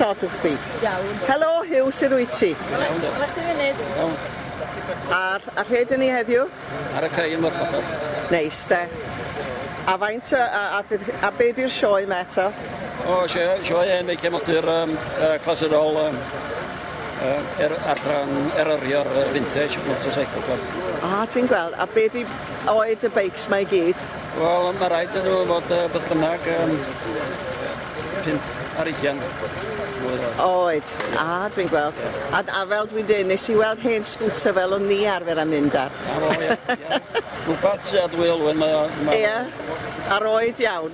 sort of chdi? Iawn. Helo, Hugh, sy'n rwy ti? Iawn. Ola chdi funud? Iawn. Ar, ar rhe dyn ni heddiw? Ar y cael yn Morfodol. Neis, de. A faint, a, a, a, a be di'r sioe ma eto? O, sioe, sioe, neu cefnogi'r um, uh, clasurol um, Yy yr adran eryrio'r yy vintage motorcycle club. Ah dwi'n gweld a be' 'di oed y beics 'ma i gyd? Wel ma' raid iddyn nw fod yy beth bynnag yym pump ar ugian mlwydd oed. Oed. Ie. Ah dwi'n gweld. Ie. A d- a fel dwi'n deud nes i weld hen scooter fel o'n ni arfer â mynd ar. 'Na fo ie ie. Rwbath sy â dwy olwyn mae o mae o... Ie? Ar oed iawn?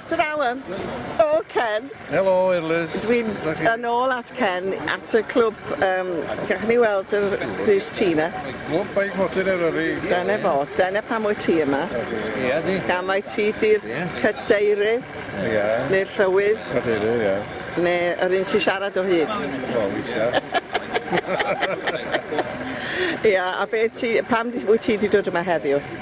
Ta-ra ŵan. O Ken! Helo Ellis. Dwi'n yn ôl at Ken at y clwb yym gallwn ni weld yr grys ti 'na? Clwb Beic Modur Eryri. Dyna fo, dyna pam wyt ti yma. Ia di. Gan mai ti 'di'r Ia. cadeirydd Ia. neu'r llywydd Cadeirydd ia. neu yr un sy'n siarad o hyd. Wel weithia. Ia a be' ti pam wyt ti 'di dod yma heddiw?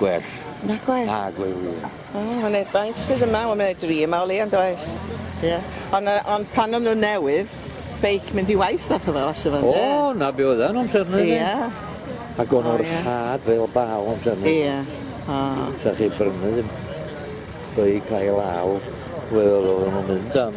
Gwell. Na gwell? Na gwell ie. O ma' 'ne faint sydd yma wel ma' 'ne dri yma o leia yndoes? Ie. On' yy on' pan o'n nw'n newydd beic mynd i waith fath o fel sa fe ynde? O 'na be' oedd e'n amser 'ny de? Ia. Ag o'n nw'n rhad fel baw amser 'ny. Ia. O. Sa chi brynu ddim beic ail law wel oddwn nw'n mynd am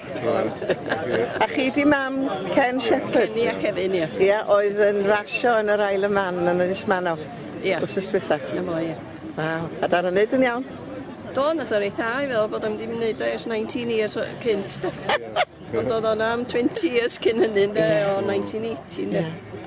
A chi 'di mam Ken Shepherd? Ia Kevin ia. Ia oedd yn rasio yn yr Isle of Man yn Ynys Manaw. Ia. Wsos dwetha. 'Na fo ia. Waw. A dal yn neud yn iawn? Do nath o reit dda i feddwl bod o'm 'di neud o ers nineteen years o- cynt 'de. Ond o'dd o'n am twenty years cyn hynny ynde o nineteen eighty ynde? Ia.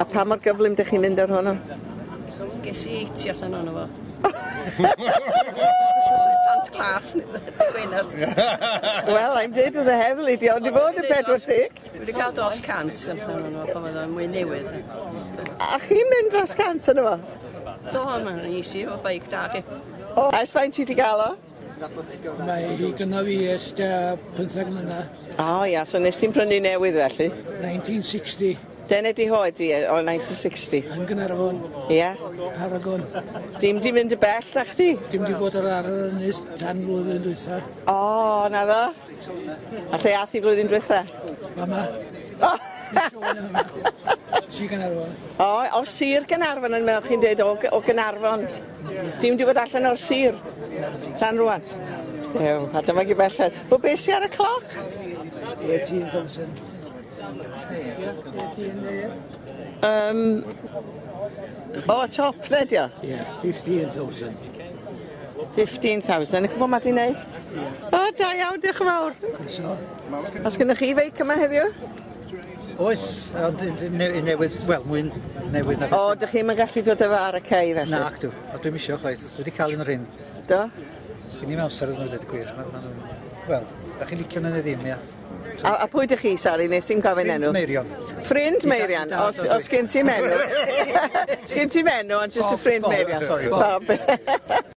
A pa mor gyflym dych chi'n mynd ar hwnnw? Ges i eighty allan ono fo. Pant glas neu be' dy gwener. Well I'm dead with the heddlu di ond i fod yn pedwar deg. Dwi 'di ca'l dros cant allan ono fo pan oedd o'n mwy newydd. A chi'n mynd dros cant yno fo? Do ma' easy efo beic da chi. O ers faint ti 'di ga'l o? Mae hi gyda fi ers tua pymtheg mlynedd. O ia, so nes ti'n prynu newydd felly? 1960. Dyna di hoe di e, o 1960. Yn Gaernarfon. Ia? Paragon. Dim di mynd y bell na chdi? Dim di bod ar ar yr ynys tan flwyddyn dwytha. O, na ddo? A lle ath i flwyddyn dwytha? Mama. O! Si Gaernarfon. O, o Sir Gaernarfon yn meddwl chi'n dweud o, o Gaernarfon. Dim di bod allan o'r sir tan rwan. Ew, a dyma gi belled. Bo be si ar y cloc? 18,000. Um, o, top le di o? Yeah, 15,000. 15,000. Y cwbl ma di wneud? Yeah. O, da iawn, diolch yn fawr. Os gennych chi feic yma heddiw? Oes, ond yn yn ne- yn newydd, wel, mwy newydd na beth... O, 'dych chi'm yn gallu dod â fo ar y cei felly? Nacdw, a dwi'm isio chwaith, dwi 'di ca'l un o'r rhein. Do? Sgin i'm amser iddyn nhw ddeud y gwir, ma' ma' nhw'n... Wel, 'dach chi'n licio nhw neu ddim, ia? A, a pwy 'dych chi, sori, nes i'm gofyn enw? Ffrind Meirion. Ffrind Meirion, dad os, ydw i. os gen ti menw. Sgin ti menw, ond jyst y O, ffrind Bob, Meirion. sori, Bob. Bob.